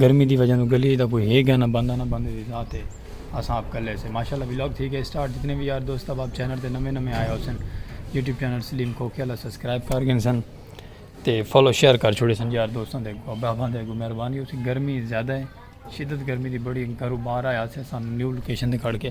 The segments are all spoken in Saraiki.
گرمی دی وجہ توں گلی اچ تاں کوئی ہے گیا نہ بندہ نہ بندے دی ذات ہے اساں آپ کلے سے ماشاءاللہ ولاگ تھی گئے سٹارٹ جتنے وی یار دوست احباب چینل تے نویں نویں آئے ہوسن یوٹیوب چینل سلیم کھوکھے والا سبسکرائب کر گن سن تے فالو شیئر کر چھوڑے سن یار دوستاں دے احباباں دے اگوں مہربانی ہوسی گرمی زیادہ ہے شدت گرمی دی بڑی گھرو باہر آیا سے سن نیو لوکیشن تے کھڑ کے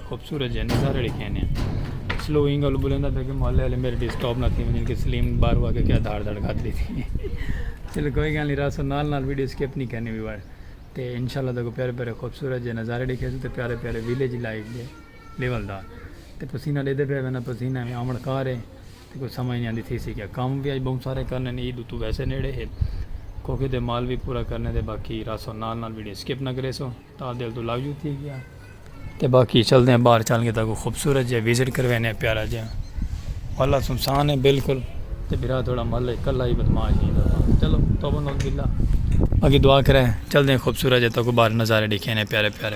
خوبصورت جانی سارے لکھے ہیں سلو ہی گلو بولیں دا پہ کہ محلے والے میرے ڈسٹاپ نہ تھی مجھے کہ سلیم بار ہوا کہ کیا دھاڑ دھاڑ کھا دی تھی چلو کوئی گل نہیں راسو نال نال ویڈیو سکپ نہیں کرنی بھی بار تے انشاءاللہ تکو پیارے پیارے خوبصورت جے نظارے لکھے سو تے پیارے پیارے ویلیج لائف دے لیول دا تے پسینہ دے دے پہ وینا پسینہ میں آمڑ کار ہے تے کوئی سمجھ نہیں آندی تھی سی کیا کام بھی آج بہت سارے کرنے ہیں عید تو ویسے نیڑے ہے کوکے دے مال بھی پورا کرنے دے باقی راسو نال نال ویڈیو سکپ نہ کرے سو تاں دل توں لگ جو تھی گیا تے باقی چل دیں باہر چل گے تاں کوئی خوبصورت جے وزٹ کروے نے پیارا جے والا سنسان ہے بالکل تے بھرا تھوڑا مل ہے کلا ہی بدماش ہی دا چلو توبہ نوز باللہ باقی دعا کرے چل دیں خوبصورت جے تاں کوئی باہر نظارے دیکھے نے پیارے پیارے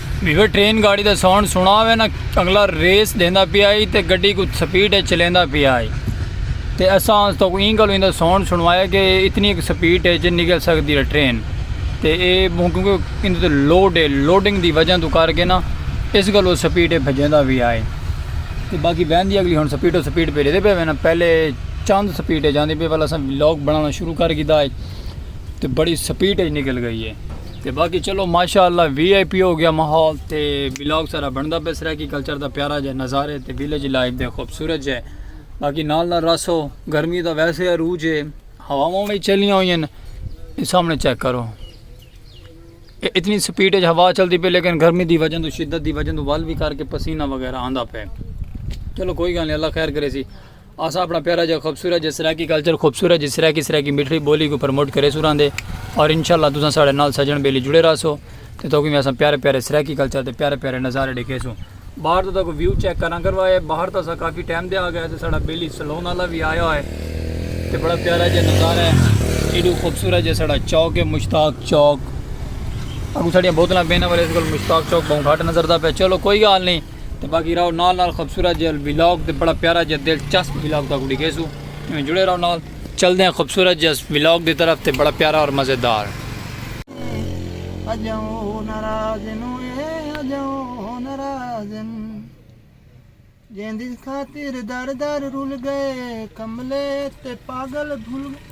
ویور ٹرین گاڑی دا ساؤنڈ سنڑا ہوئے نا اگلا ریس ڈیندا پیا ہئی تے گڈی کوں سپیڈ اچ چلیندا پیا ہئی تے اساں اس توں ایں گالوں ایندا ساؤنڈ سنڑوایا کہ اتنی اک سپیڈ اچ نکل سکدی ہے ٹرین تے اے کیونکہ ایندے تے لوڈ ہے لوڈنگ دی وجہ توں کر کے نا اس گالوں سپیڈ اچ بھجیندا پیا ہئی تے باقی وین دی اگلی ہن سپیڈ تے سپیڈ بھیجدے پئے نا پہلے چند سپیڈ اچ آندی پئی ول اساں ولاگ بنڑانا شروع کر گھیدا ہئی تے بڑی سپیڈ اچ نکل گئی ہے۔ تے باقی چلو ماشاءاللہ وی آئی پی ہو گیا ماحول تے ولاگ سارا بندا پہ سرائیکی کلچر دا پیارا جے نظارے تے ویلیج لائف دے خوبصورت جے باقی نال نال راسو گرمی دا ویسے عروج ہے ہواواں بھی چلیاں ہوئی ہیں سامنے چیک کرو اتنی سپیڈ ہے ہوا چلتی پہ لیکن گرمی دی وجہ تو شدت دی وجہ تو ول بھی کر کے پسینہ وغیرہ آندہ پہ چلو کوئی گل نہیں اللہ خیر کرے سی اساں اپنا پیارا جا خوبصورت جا سرائیکی کلچر خوبصورت جی سرائیکی سرائیکی میٹری بولی کو پروموٹ کرے سوراں دے اور انشاءاللہ تساں ساڑے نال سجن بیلی جڑے رہا سو تے تو کوئی میں اساں پیارے پیارے سرائیکی کلچر تے پیارے پیارے نظارے ڈیکھے سو باہر تو تاکو ویو چیک کرنا کروائے باہر تو سا کافی ٹائم دے آ گیا تے ساڑا بیلی سلون والا بھی آیا ہوئے تے بڑا پیارا جا نظارہ ہے ایڈو خوبصورت جا ساڑا چوک ہے مشتاق چوک اگو ساڑیاں بوتلاں بینا والے اس کو مشتاق چوک بہن گھاٹ نظر دا پہ چلو کوئی گال نہیں تے باقی راؤ نال نال خوبصورت جے ویلاگ تے بڑا پیارا جے دلچسپ ویلاگ تاکو ڈی گیسو ایویں جڑے راؤ نال چل دے ہیں خوبصورت جے ویلاگ دی طرف تے بڑا پیارا اور مزیدار اجاؤ ناراض نو اے اجاؤ ناراض جیندی خاطر در در رول گئے کملے تے پاگل بھول گئے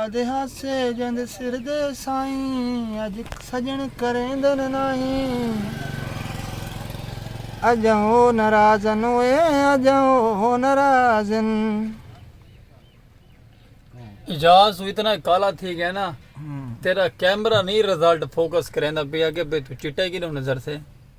آدھے ہاسے جیندے سر دے سائیں اج سجن کریندن نائیں اج او نرازن اوئے اج او نرازن۔ اعجاز توں اتنا کالا تھی گئے نا تیرا کیمرہ نہیں ریزلٹ فوکس کریندا پیا کہ بھئی توں چٹا کیڈوں نظر سے۔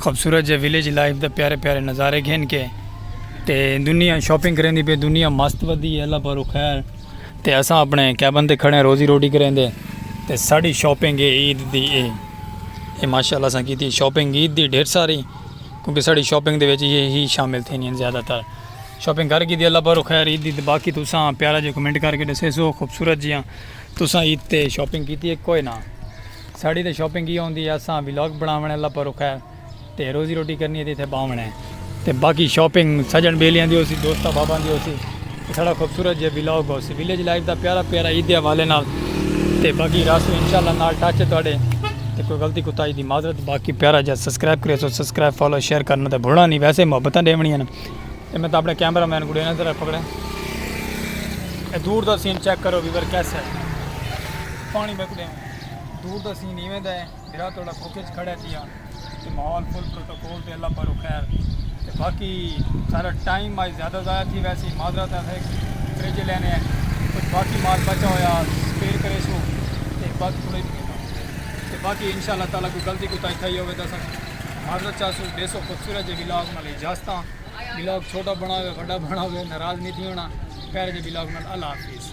خوبصورت جے ویلیج لائف دے پیارے پیارے نظارے گھن کے تے دنیا شاپنگ کریں دی پہ دنیا مست ودی ہے اللہ پارو خیر تے اساں اپنے کیبن تے کھڑے ہیں روزی روٹی کریں دے تے ساڑی شاپنگ ہے عید دی اے اے ماشاءاللہ اساں کی تھی شاپنگ عید دی ڈھیر ساری کیونکہ ساڑی شاپنگ دے ویچے یہ ہی شامل تھے نہیں زیادہ تر شاپنگ کر کی دی اللہ پارو خیر عید دی تے باقی تو ساں پیارا جے کمنٹ کر کے دسے سو خوبصورت جیاں تو ساں عید تے شاپنگ کی تھی کوئی نہ ساڑی تاں شاپنگ ہی ہوندی ہے اساں ولاگ بناونے اللہ پر رکھا ہے تے روزی روٹی کرنی ہے تے اتھے باونے ہیں تے باقی شاپنگ سجن بیلیاں دی ہوسی دوستاں باباں دی ہوسی ساڑا خوبصورت جے ولاگ ہوسی ویلیج لائف دا پیارا پیارا عید دے حوالے نال تے باقی راسو انشاءاللہ نال ٹچ ہے تواڈے تے کوئی غلطی کوتاہی دی معذرت باقی پیارا جا سبسکرائب کریو سو سبسکرائب فالو شیئر کرنا تے بھولنا نہیں ویسے محبتاں ڈیونی ہیں تے میں تاں اپنے کیمرہ مین کو ڈینا ذرا پکڑے اے دور دا سین چیک کرو ویور کیسا ہے پانی میں کو ڈیون دور دا سین ایویں دا ہے بھرا توڑا بک اچ کھڑا تھیا تے ماحول فل پروٹوکول تے اللہ پاروں خیر تے باقی سارا ٹائم مائی زیادہ ضائع تھی ویسی معذرت ہے تھے فریج لینے ہیں کچھ باقی مال بچا ہویا سپیئر کرے سو تے باقی تھوڑے تے باقی انشاءاللہ تعالی کوئی غلطی کوتا ہی تھئی ہوے دا سا معذرت چاہ سو دیسو خوبصورت جے ولاگ نال اجازتاں ولاگ چھوٹا بناوے وڈا بناوے ناراض نہیں تھی ہونا پیارے جے ولاگ نال اللہ حافظ